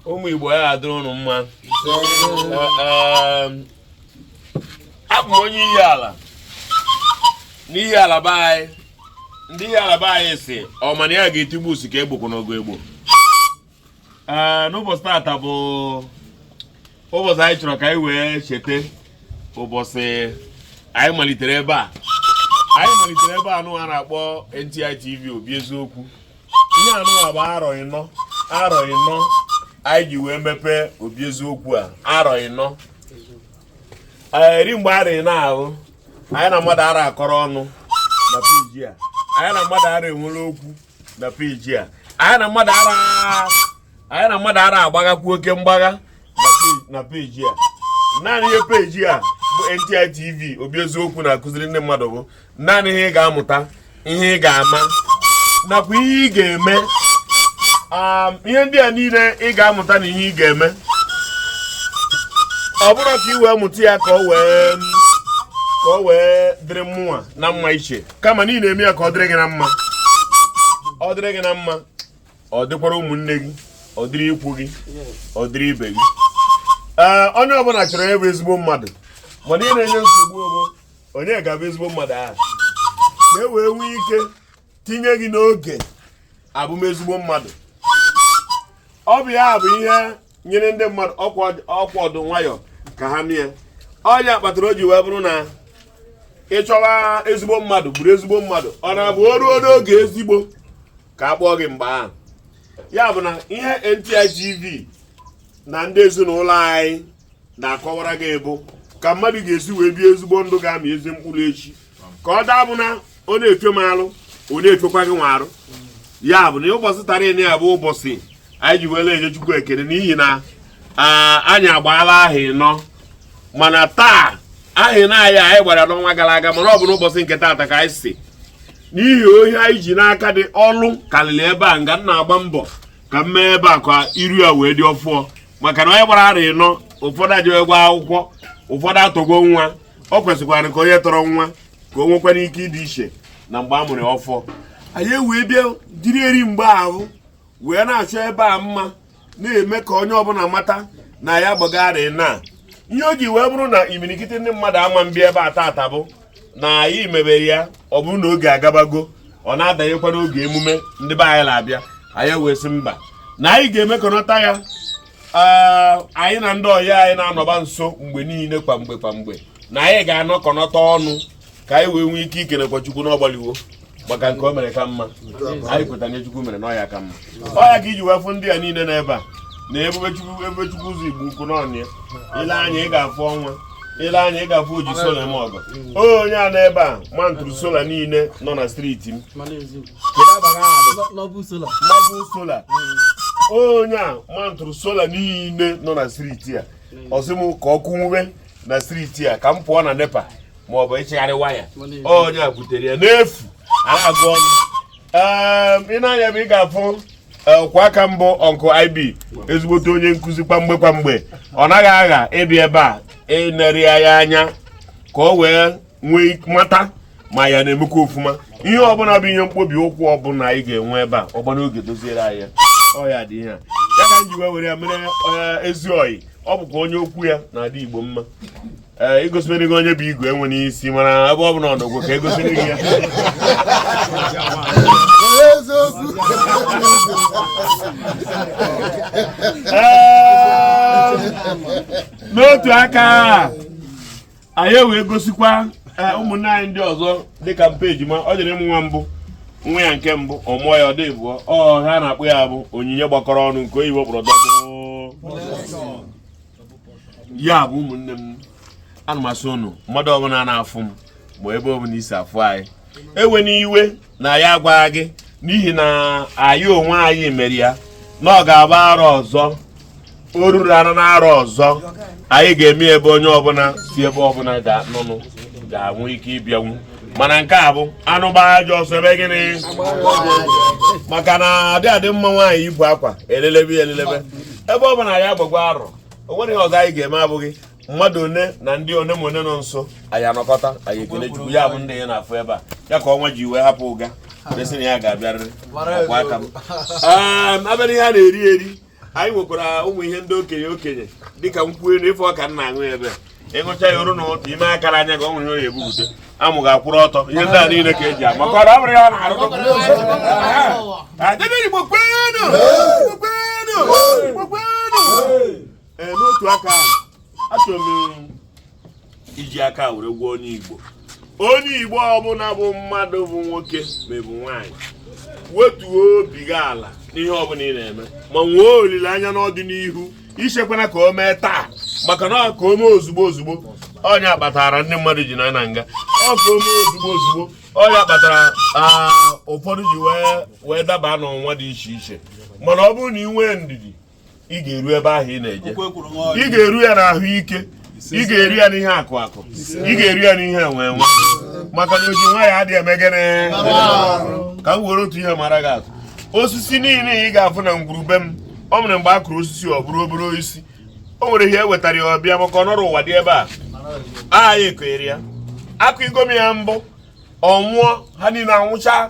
ụmụ igbo ya adịrị ụnụ mma abụ m onye Ihiala n'Ihiala be anyị ndị Ihiala be anyị sị ọ ma na ya ga-etigbu usi ka egbokwu n'ogo egbo n'ụbọchị tata bụ ụbọchị anyị chọrọ ka anyị wee cheta ụbọchị anyị malitere ebe a anyị malitere ebe anụwa na-akpọ NTI TV obi eziokwu ihe anụwa bụ arọ ịnọ arọ ịnọ anyị ji wee mepee obi eziokwu a arọ ịnọ eri mgbe arọ ịnọ ahụ anyị na mmadụ ara akọrọ ọnụ na peji a anyị na mmadụ ara enwere okwu na peji a anyị na mmadụ ara agbaghakwu oke mgbagha na peji a naanị ihe peji a bụ NTI TV obi eziokwu na-akụziri ndị mmadụ bụ naanị ihe ị ga-amụta ihe ị ga-ama nakwa ihe ị ga-eme um, ihe ndị a niile ị ga-amụta na ihe ị ga-eme ọ bụrọ ka ị wee mụta ya ka ọ wee ka ọ wee dịrị mụnwa na mma iche kama na ị na-eme ya ka ọ dịrị gị na mma ọ dịrị gị na mma ọ dịkwara ụmụnne gị ọ dịrị ikwu gị ọ dịrị ibe gị ee onye ọbụla chọrọ ịbụ ezigbo mmadụ mana ihe na-enye nsogbu bụ onye ga-abụ ezigbo mmadụ ahụ ka e wee nwee ike tinye gị n'oge abụ m ezigbo mmadụ ọ bụ ya bụ ihe nyere ndị mmadụ ọkwa ọdụ nwayọ ka ha mie ọ ya kpatara o ji wee bụrụ na ị chọwa ezigbo mmadụ bụrụ ezigbo mmadụ ọ na-abụ o ruo n'oge ezigbo ka a kpọọ gị mgbe ahụ ya bụ na ihe NTI TV na ndị ezinụlọ anyị na-akọwara gị bụ ka mmadụ ga-esi wee bie ezigbo ndụ ga-amị ezi mkpụrụ echi ka ọ daa abụ na ọ na-efe m alụ ọ na-efekwa gịnwa arụ ya bụ na ụbọchị taa nịa bụ ụbọchị anyị ji wee na-enye Chukwu ekele n'ihi na anyị agbaala ahọ ịnọ mana taa ahọ ịnọ a anyị gbara n'ọnwa gara aga mana ọ bụ n'ụbọchị nke taata ka anyị si n'ihi ihe anyị ji n'aka dị ọlụ karịrị ebe a nga m na-agba mbọ ka m mee ebe a ka iru ya wee dị ọfụọ maka na onye gbara arọ ịnọ ụfọdụ ejewegwo akwụkwọ ụfọdụ atọgwo nwa ọ kwesịkwara ka onye tọrọ nwa ka o nwekwara ike ịdị iche na mgbe a mụrụ ọfụọ anyị ewee bịa jiri eri mgbe ahụ wee na-achọ ebe a mma na-eme ka onye ọbụla mata na ya agbago arọ ịnọ ihe o ji wee bụrụ na imirikiti ndị mmadụ ama mbịa ebe a tata bụ na anyị mebe ya ọ bụrụ na oge agabago ọ na-adanyekwa n'oge emume ndị be anyị na-abịa anyị wee sị mba na anyị ga-emekọnọta ya anyị na ndị ọyị anyị na-anọba nso mgbe niile kwa mgbe kwa mgbe na anyị ga-anọkọnọta ọnụ ka anyị wee nwee ike ikenekwa chukwu na ọ gbalịwo maka nke o mere ka mma anyị kweta n'ihe chukwu mere na ọ ya ka mma ọ ya ka i ji wee fụ ndị a niile n'ebe a na ebube chukwu ebube chukwu ụzọ igbo ukwu n'onwe ya i lee anya ị ga-afụ ọnwa i lee anya ị ga-afụ oji sola eme ọgọ onye a n'ebe a ma ntụrụ sola niile nọ na striti m nọ bụ sola onye a ma ntụrụ sola niile nọ na striti a ọ sị m ka ọkụ nwube na striti a ka m pụọ na nepa ma ọ bụ ịchịgharị waya onye a butere ya n'efu agụ ọnụ i nee anya bụ ị ga-afụ ọkwa aka mbụ uncle IB ezigbote onye nkụzi kwamgbe kwamgbe ọ naghị agha ịbịa ebe a inere anyị anya ka o wee nwee mata ma ya na-emekwa ofuma ihe ọbụla bụ ihe mkpobi ụkwụ ọbụla anyị ga-enwe ebe a ọ gbaa n'oge doziere anyị ya ọ ya dị ihe a ya ka m ji wee were ya mere eh, ezi ọyị ọ bụkwa onye okwu ya na-adị igbo mma ee eh, e gosiri gị onye bụ igwe enwe n'isi mana ebe ọ bụla ọ nọgwụ ka e gosiri gị ya eh, n'otu aka anyị wee gosikwa eh, ụmụnne anyị ndị ọzọ dịka mpa ejima o jiri nwa mbụ nwa ya nke mbụ ọ mụọ ya ọ dị abụọ ọ ha na-akpọ ya bụ onyinye gbakọrọ ọnụ nke oyibo kpọrọ double ya bụ ụmụnne m ana m asị unu mmadụ ọbụla na-afụ m ma ebe ọbụla i si afụ anyị ewena iwe na anyị agwarọ gị n'ihi na anyị onwe anyị mere ya na ọ ga-agba arọ ọzọ o ruru anọ n'arọ ọzọ anyị ga-eme ebe onye ọbụla si ebe ọbụla ga-anụnụ ga-enwe ike ịbịanwu mana nke a bụ anụ gbaa ajọ ọsọ e mee gịnị maka na adị adị mma nwaanyị ibu akwa elelebe ya elelebe ebe ọ bụla ya gbakwa arọ o nwere ihe ọzọ anyị ga-eme abụghị mmadụ one na ndị one ma one nọ nso anyị anọkọta anyị ekele chukwu ya bụ ndị ị na-afụ ebe a ya ka ọnwa ji wee hapụ Uga wee sị na ya ga-abịarịrị ọkwa aka m Ehm, a bịa n'ihe a na-eri eri anyị nwekwara ụmụ ihe ndị okenye okenye dịka nkwụ elu ịfụ ọka nna aṅụ ya ebe ị ṅụchaa ya o ruo n'ụtụtụ ime akara anya ka ọ nwere onye ebupụta amụ ga-akwụrụ ọtọ ihe ndị a niile ka e ji ama ka ọ bụrụ ya ọ na-arụ Adebe Igbo kwenu! Igbo kwenu! Igbo kwenu! ee n'otu aka ahụ achọrọ m iji aka were gwa onye igbo onye igbo ọbụla bụ mmadụ bụ nwoke maọbụ nwaanyị wetuo obi gị ala n'ihe ọbụla ị na-eme ma nwee olileanya n'ọdịnihu ichekwana ka o mee taa maka na ọ ka o mee ozugbo ozugbo ọ nya kpatara ndị mmadụ ji nọ na nga ọ ka o mee ozugbo ozugbo ọ nya kpatara ụfọdụ ji wee daba n'ọnwụnwa dị iche iche mana ọ bụrụ na ị nwee ndidi ị ga-eru ebe ahụ ị na-eje ị ga-eru ya n'ahụ ike ị ga-eru ya n'ihe akụ akụ ị ga-eru ya n'ihe enwe enwe maka na oji nwayọ adịghị eme gịnị ka m were otu ihe mara gị atụ osisi niile ị ga-afụ na ngwuru be m o nwere mgbe a kụrụ osisi ọ bụrụ obere osisi o nwere ihe e wetara ya ọbịa maka ọnọrọ ụwa dị ebe a aha ya ekonyere ya akụ igomi ya mbụ ọ nwụọ ha niile anwụcha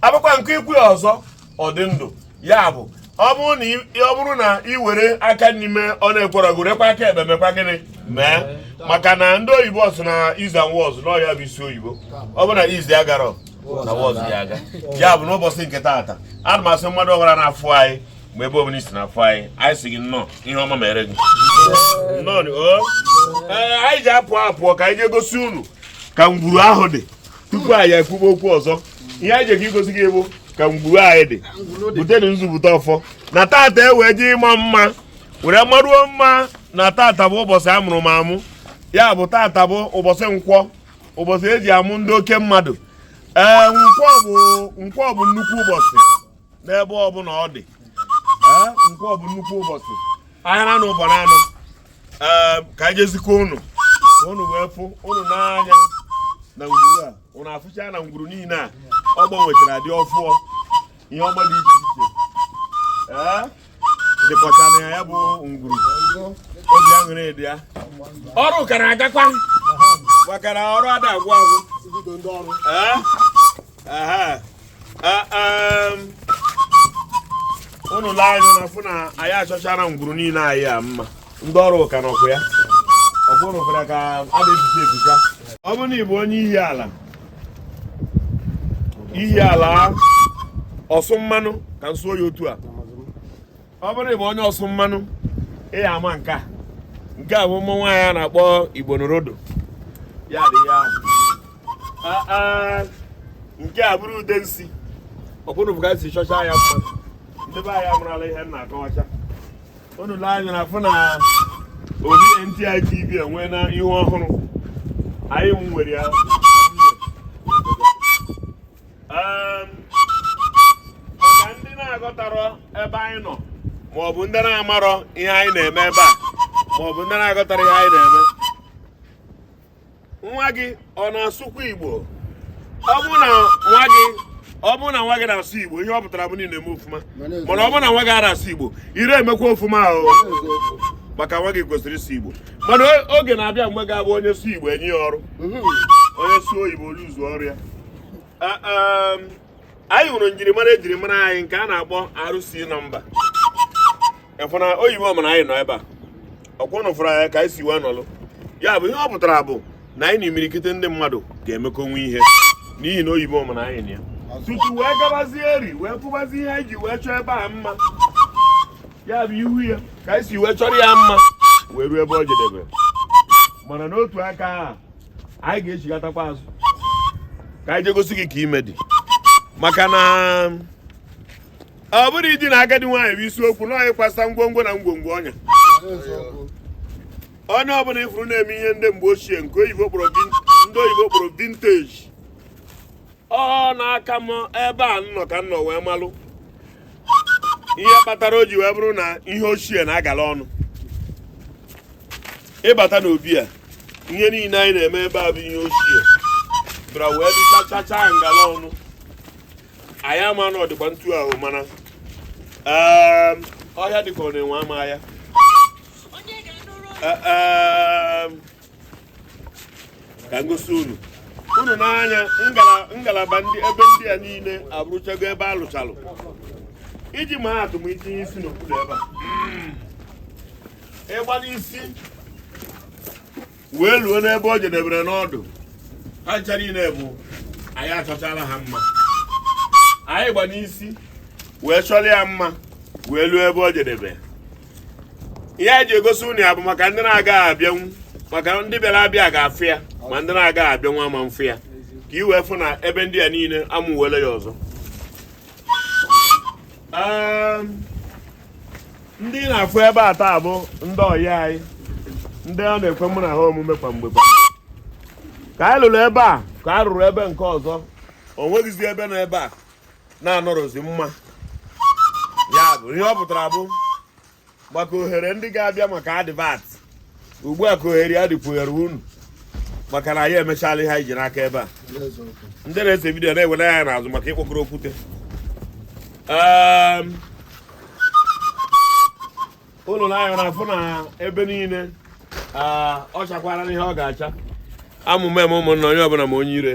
a bịakwa nke ịkụ ya ọzọ ọ dị ndụ ya bụ ọ bụrụ na ị were aka nri mee ọ na-ekwerọ gị werekwa aka ekpe mekwa gịnị mee maka na ndị oyibo sị na is and was na ọ ya bụ isi oyibo ọ bụ na is agarọ na was ya aga ya bụ n'ụbọchị nke taata ana m asị mmadụ ọbụla na-afụ anyị mgbe ebe ọbụla i si na-afụ anyị anyị sị gị nnọọ ihe ọma mere gị nnọọ anyị ji apụ apụọ ka anyị jee gosi unu ka ngwuru ahụ dị tupu anyị ekwuba okwu ọzọ ihe anyị jekọ igosi gị bụ ka ngwuru anyị dị butenu nzupụta ọfụọ na tata e wee jee ịma mma were maruo mma na tata bụ ụbọchị a mụrụ m amụ ya bụ tata bụ ụbọchị nkwọ ụbọchị e ji amụ ndị oke mmadụ ee nkwọ bụ nkwọ bụ nnukwu ụbọchị n'ebe ọbụla ọ dị nkwọ bụ nnukwu ụbọchị ahịa na ụbọ na anọ ka anyị jee zikwa ụnụ ka ụnụ wee fụ ụnụ n'anya na ngwuru a ụnụ afụcha na ngwuru niile a ọ gbanwechara dị ọfụọ ihe ọma dị iche iche dịkọcha na ya ya bụ ngwuru obi aṅụrị dị ya ọrụ ka na-agakwa maka na ọrụ ada agwụ agwụ Ee? Aha. Ee, em, unu lee anya na fụ na anyị achọchara ngwuru niile anyị a mma ndị ọrụ ka nọkwa ya ọkwụrụkwara ka a na-eficha eficha ọ bụrụ na ị bụ onye Ihiala Ihiala ọsụ mmanụ ka m sụọ ya otu a ọ bụrụ ị bụ onye ọsụ mmanụ ị ya ama nke a nke a bụ ụmụ nwaanyị a na-akpọ igbo norodo ya dị ya nke a bụrụ ude nsi ọbụrụ bụ ka m si chọcha ya mma ndị be anyị amarala ihe m na-akọwacha unu lee anya na fụ na obi NTI TV enweena ihe ọhụrụ anyị nwere ya Ehm, maka ndị na-aghọtarọ ebe anyị nọ maọbụ ndị na-amarọ ihe anyị na-eme ebe a maọbụ ndị na-aghọtara ihe anyị na-eme nwa gị ọ na-asụkwa igbo ọ bụ na nwa gị ọ bụ na nwa gị na-asụ igbo ihe ọ pụtara bụ na ị na-eme ọfụma mana ọ bụ na nwa gị arọ asụ igbo ị rọ emekwa ọfụma o maka nwa gị kwesịrị ịsụ igbo mana oge na-abịa mgbe ga-abụ onye sụọ igbo e nye ya ọrụ mhm. onye sụọ oyibo o lose ọrụ ya um, anyị nwere njirimara e jiri mara anyị nke a na-akpọ RC number efụna oyibo ọmụ na anyị nọ ebe a ọ kwa unu fụrụ anyị ka anyị si wee nọlụ ya bụ ihe ọ pụtara bụ na anyị na imirikite ndị mmadụ ga-emekọnwu ihe n'ihi na oyibo ọmụ na anyị na ya tutu wee gabazie eri wee fụbazi ihe anyị ji wee chọọ ebe a mma ya bụ ị hụ ya ka anyị si wee chọrọ ya mma wee ruo ebe ọ jedebere mana n'otu aka ahụ anyị ga-echigatakwa azụ ka anyị je gosi gị ka ime dị maka na ọ bụrụ idi na agadi nwaanyị bụ isiokwu na o yikwasa ngwongwo na ngwongwo onye onye ọbụla ị fụrụ na-eme ihe ndị mgbe ochie nke ndị oyibo kpọrọ vintage ọ na-aka m ebe a nnọ ka nnọ wee malụ ihe kpatara o ji wee bụrụ na ihe ochie na-agala ọnụ ị bata n'obi a ihe niile anyị na-eme ebe a bụ ihe ochie bịara wee dịchacha ngala ọnụ anyị ama na ọ dịka ntu ahụ mana ehm, ọhịa dịka ọ na-enwe ama ya e, ehm, ka m gosi unu unu n'anya ngalaba ndị ebe ndị a niile abụrụchago ebe a lụchalụ iji maa atụ m itinye isi n'obodo ebe a ịgba n'isi wee luo n'ebe o jedebere n'ọdụ ha ncha niile bụ anyị achọchala ha mma anyị gba n'isi wee chọrọ ya mma wee luo ebe o jedebe ihe anyị ji egosi unu ya bụ maka ndị na-agaghị abịanwu maka ndị bịara abịa ga-afụ ya ma ndị na-agaghị abịanwu ama afụ ya ka i wee fụ na ebe ndị a niile amụwele ya ọzọ ndị na-afụ ebe a taa bụ ndị ọyị anyị ndị ọ na-ekwe mụ na ha omume kwa mgbe kwa ka anyị lụrụ ebe a ka a rụrụ ebe nke ọzọ o nweghịzi ebe nọ ebe a na-anọrọzi mma ya bụ ihe ọ pụtara bụ maka ohere ndị ga-abịa maka advert ugbu a ka ohere ya dịkwuere unu maka na anyị emechala ihe anyị ji n'aka ebe a ndị na-ese vidiyo na-ewere anya n'azụ maka ịkpọkọrọ okwute unu na anya afụ na ebe niile ọ chakwara n'ihe ọ ga-acha amụma eme ụmụnna onye ọbụla ma onye ire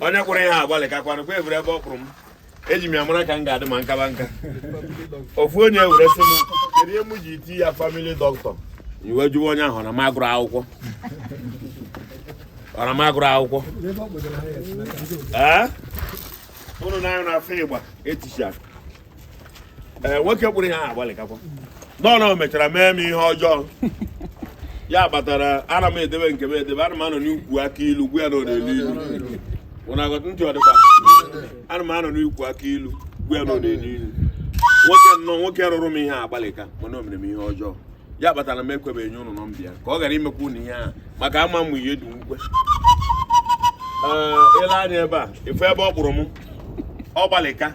onye kwụrụ ihe agbalị ka kwanụ kwa eburu ebe ọ kpụrụ m eji m ya mara ka m ga-adị ma m kaba nka ofu onye were sị m kedu ihe m ji eti ya family dọkịta m wee jụwa onye ahụ na m agụrụ akwụkwọ ụnụ nee anya ụnụ afụ ịgba eticha ee nwoke kpụrụ ihe agbalịkakwa nnọọ mechara mee m ihe ọjọọ ya kpatara ana m edebe nke m edebe ana m anọ n'ukwu akị ilu gwa ya na ọ na-elu ilu ntị ọ dịkwa ana m anọ n'ukwu akị ilu gwa ya na ọ na-elu ilu nwoke nnọọ nwoke rụrụ m ihe agbalịka mana o mere m ihe ọjọọ ya kpatara m ekwebeghị nye ụnụ nọmba ya ka ọ ghara imekwa ụnụ ihe ahụ maka ama m ihe dị ukwe i lee anya ebe a ị fụ ebe ọ kpụrụ m ọ gbalịka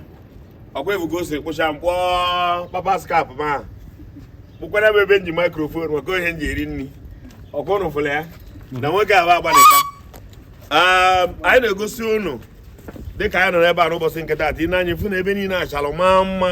ọkwa ị fụgo o si kpụcha m kpụọ papa's cap ma kpụkwara m ebe m ji microphone maka ihe m ji eri nri ọkwa ụnụ fụrụ ya na nwoke ahụ agbalịka anyị na-egosi ụnụ dịka anyị nọ n'ebe a n'ụbọchị nke taata i nee anya ị fụ na ebe niile achara ma mma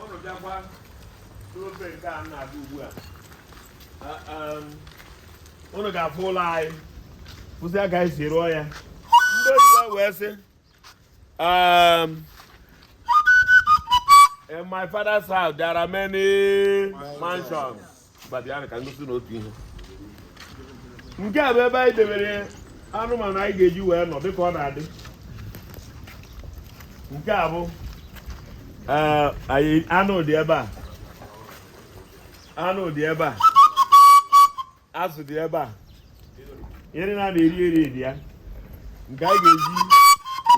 ụnụ bịakwa n'ofe nke a na-abịa ugbu a ụnụ ga-afụ ụlọ anyị fụsịa ka anyị si rụọ ya ndị oyibo wee sị um, in my father's house there are many mansions nke a bụ ebe anyị debere anụmanụ anyị ga-eji wee nọ dịka ọ na-adị nke a bụ eh, anụ dị ebe a anụ dị ebe a azụ dị ebe a ihe a na-eri eri dị ya nke anyị ga-eji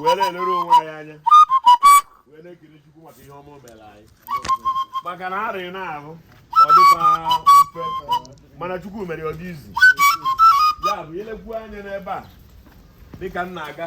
wee na-elere onwe anyị anya wee na-ekele maka na arịrị na-ahụ ọ dịkwa mfe mana chukwu mere ọ dị easy ya bụ i lekwu anya n'ebe a dịka m na-aga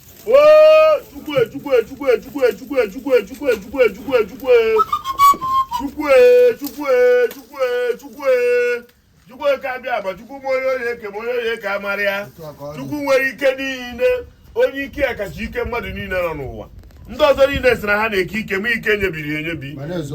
nwere ike niile onye ike ya kacha ike mmadụ niile nọ n'ụwa ndị ọzọ niile sị na ha na-eke ike ma ike nyebiri enyebi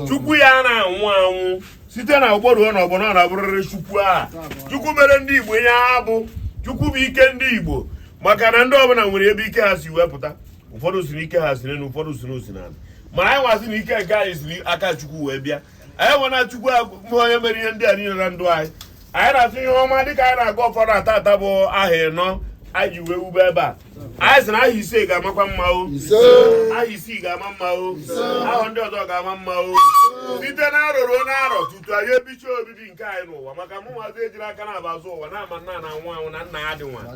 chukwu anaghị anwụ anwụ site na ọgbọ ruo na ọgbọ na-abụrịrị chukwu a chukwu mere ndị igbo ihe ha bụ chukwu bụ ike ndị igbo maka na ndị ọbụla nwere ebe ike ha si wepụta ụfọdụ sị na ike ha si n'elu ụfọdụ sị na o si n'ala ma anyị nwa sị na ike nke anyị si aka chukwu wee bịa anyị ma na chukwu bụ onye mere ihe ndị a niile na ndụ anyị anyị na-afụ ihe ọma dịka anyị na-aga ụfọdụ taata bụ arọ ịnọ anyị ji wee wube ebe a anyị sị na arọ ise ga-amakwa mma o arọ isii ga-ama mma o arọ ndị ọzọ ga-ama mma o site na arọ ruo na arọ tutu anyị ebicha obi biri nke anyị n'ụwa maka mụ nwazi ejiri aka na-aba azụ ụwa na-ama nna na anwụ anwụ na nna ya dị nwa na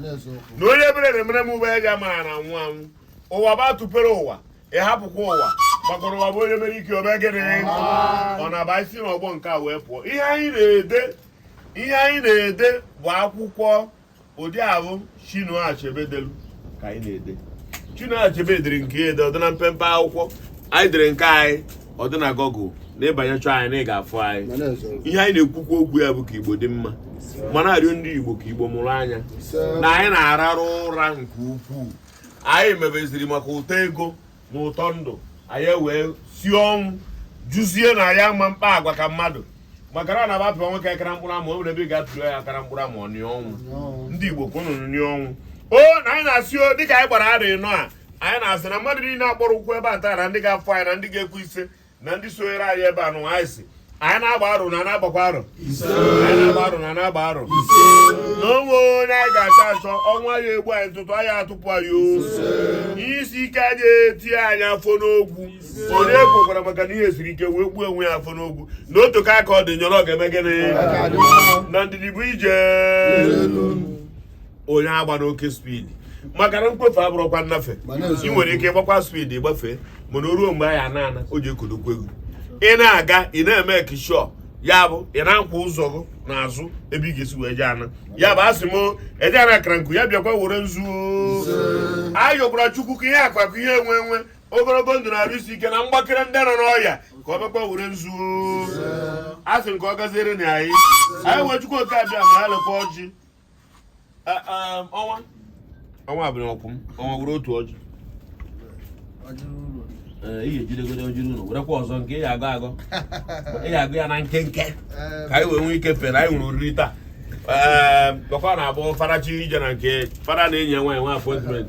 onye ebere na-emere m ube ya ji ama ya na anwụ anwụ ụwa bụ atụpere ụwa ị hapụkwa ụwa gbakọrọ ụwa bụ onye mere ike o mee gịnị ọ naba e si n'ọgbọ nke a wee pụọ ihe anyị na-ede ihe anyị na-ede bụ akwụkwọ ụdị ahụ Chinua Achebe delu ka anyị na-ede Chinua Achebe dere nke ede ọ dị na mpempe akwụkwọ anyị dere nke anyị ọ dị na Google na ị banye chọọ anyị na ị ga-afụ anyị ihe anyị na-ekwukwa okwu ya bụ ka Igbo dị mma ma na-arịọ ndị Igbo ka Igbo mụrụ anya na anyị na-ararụ ụra nke ukwuu anyị mebeziri maka ụtọ ego na ụtọ ndụ anyị wee sị ọnwụ jụzie na ya ma mkpa agwa ka mmadụ maka na abapịa nwoke akara mkpụrụ ama o ebe ị ga-atụrụ ya akara mkpụrụ ama ọnị ọnwụ ndị Igbo kwụnụ nị ọnwụ o na anyị na-asị o dịka anyị gbara arị nọ a anyị na-asị na mmadụ niile a kpọrọ oku ebe a taa na ndị ga-afụ anyị na ndị ga-ekwu isee na ndị sonyere anyị ebe a nụ anyị sị anyị na-agba arụ na na-agbakwa arụ anyị na-agba arụ na na-agba arụ na o nwe onye anyị ga-achọ achọ ọnwụ aya egbu anyị ntụtụ aya atụpụ anyị o ihe isi ike anyị eti anyị afọ n'ogwu onye ekwekwara maka na ihe siri ike wee gbuo onwe ya afọ n'ogwu na otu ka aka ọ dị nyọrọ ọ ga-eme gịnị na ndidi bụ ije onye agbana oke speed maka na nkwọfe abụrọkwa nnafe ị nwere ike gbakwa speed gbafee mana o ruo mgbe anyị ana ana o ji ekodokwa egwu ị na-aga ị na-eme kishọ ya bụ ị na-akwụ ụzọ gị n'azụ ebe ị ga-esi wee jee ana ya bụ asị m eje ana akara nkụ ya bịakwa were nzu ayọkwara chukwu ka ihe akụ akụ ihe enwe enwe ogologo ndụ na arụ isi ike na mgbakere ndị nọ n'ọya ka ọ bịakwa were nzu asị m ka ọ gaziere na anyị anyị wee chukwu oke abịama ya lekwa ọjị ọnwa ọnwa abụrụ ọkwụ m ọnwa were otu ọjị ihe ejidegode ojiri ụlọ werekwa ọzọ nke ị ga-agọ ị ga-agọ ya na nkenke ka anyị wee nwee ike fere anyị nwere oriri taa ee ọkwa na-abụ farachi ije na nke fada na anyị nwere appointment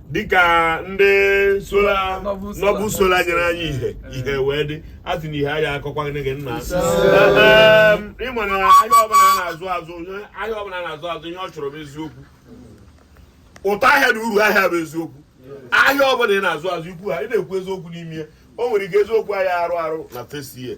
dịka ndị nọbụ solar nyere anyị ihe ihe wee dị a sị na ihe aya akọkwa gị gị nna ị ma na ahịa ọbụla a na-azụ azụ ahịa ọbụla a na-azụ azụ ihe ọ chọrọ bụ eziokwu ụtọ ahịa na uru ahịa bụ eziokwu ahịa ọbụla ị na-azụ azụ ikwu ha ị na-ekwu eziokwu n'ime ya o nwere ike eziokwu ahịa arụ arụ na fesie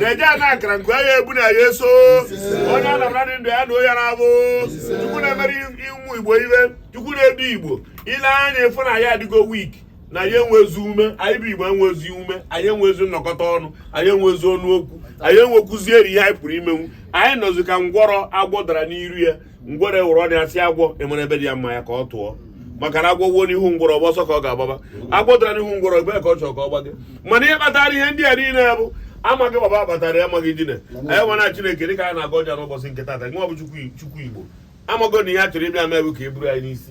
na-eje ana akara nke anyị bụ na anyị eso onye a na-abara dị ndụ ya na onye na-abụ chukwu na-emere ụmụ igbo iwe chukwu na-edu igbo i lee anya ị fụ na anyị adịgo weak na anyị enwezi ume anyị bụ igbo enwezi ume anyị enwezi nnọkọta ọnụ anyị enwezi ọnụ okwu anyị enwekwuzi eri ihe anyị pụrụ imenwu anyị nọzi ka ngwọrọ agwọ dara n'iru ya ngwọrọ wụrụ ọ na-asị agwọ enwere ebe dị ya mma ya ka ọ tụọ maka na agwọ wuo n'ihu ngwọrọ ọ bụ ọsọ ka ọ ga-agbaba agwọ dara n'ihu ngwọrọ ebe ka ọ chọrọ ka ọ gbage mana ihe kpatara ihe ndị a niile bụ amaghị baba kpatara ya amaghị dine anyị ma na Chineke dịka anyị na-agọ ọjị n'ụbọchị nke tata nwa bụ Chukwu Igbo amago na ihe a chọrọ ịbịa mee bụ ka e buru anyị n'isi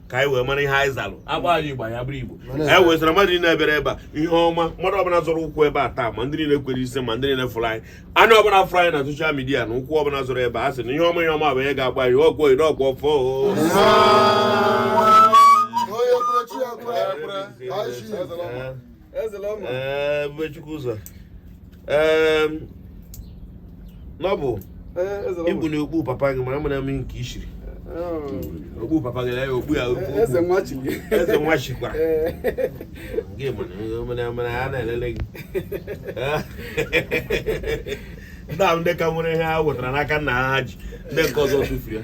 ka anyị wee mara ihe anyị zalụ agba anyị Igbo ya bụrụ Igbo anyị wee sara mmadụ niile bịara ebe a ihe ọma mmadụ ọbụla zọrọ ụkwụ ebe a taa ma ndị niile kwere ise ma ndị niile fụrụ anyị anya ọbụla fụrụ anyị na social media na ụkwụ ọbụla zọrọ ebe a sị na ihe ọma ihe ọma bụ ihe ga-agba anyị ọgwụ oyi n'ọgwụ ọfọ isee. ee Ebubechukwu ụzọ ee n'ọbụ igbu na okpu papa gị mara mma mmiri nke ishiri oh. okpu papa gị ya okpu ya eze nwa chikwa gị mana mana a na-elele gị ndị ahụ ndị ka nwere ihe ha wetara n'aka nna ha ji ndị nke ọzọ tụfuru ya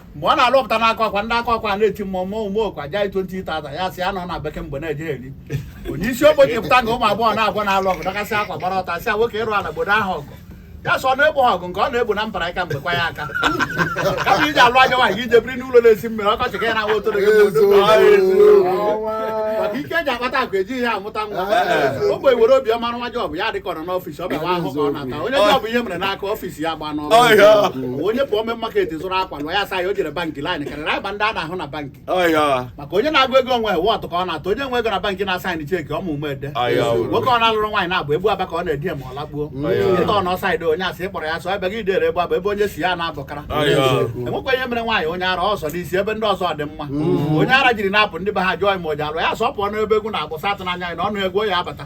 mgbe ọ na-alụpụta n'aka ọkwa ndị aka ọkwa na-eti mmụọ mmụọ ume okwa ja 20,000 ya sị ya nọ na bekee mgbe na-eje eri onye isi ogbenye pụta nga ụmụ agbọghọ abụọ na-alụ ọgụ dọkasị akwa gbara ọtọ sị ya nwoke ịrụ ala gbodo ha ọgụ ya sị ọ na-egbo ha ọgụ nke ọ na-egbo na mbara aka mgbekwa ya aka kama iji alụ anya nwaanyị i je biri n'ụlọ na-esi mmiri ọkọchị ka ya na-awa otoro gị bụ odogwu. maka ike eji akpata akụ ejighị ya amụta nwa ogbenye were obiọma rụwa job ya dịka ọ nọ n'office Ọ bụ ahụhụ ka ọ na-ata. Onye ọbụla bụ ihe mere n'aka office ya gba n'ọrụ. Ọ ya. Onye pụọ mee market zụrụ akwa lụọ ya saa ya o jere bankị line karịrị agba ndị a na-ahụ na bankị. Ọya. maka onye na-agụ ego onwe wọtụ ka ọ na-atụ onye nwe ego na bankị na-asign cheque ọmụ ume ede Aya o. nwoke ọ na-alụrụ nwaanyị na-abụ egbu aba ka ọ na-edi ya ma ọ lakpuo Aya. ịta ọ na outside onye asị ịkpọrọ ya sọ ebe gị dere egbu aba ebe onye si ya na-abụkara Aya. enwekwa ihe mere nwaanyị onye ara ọsọ n'isi ebe ndị ọzọ dị mma onye ara jiri na-apụ ndị be ha jụọ ya ma o ji alụ ya sọ pụọ n'ebe egwu na-agbụsa atụ n'anya ya na ọnụ egwu ya abata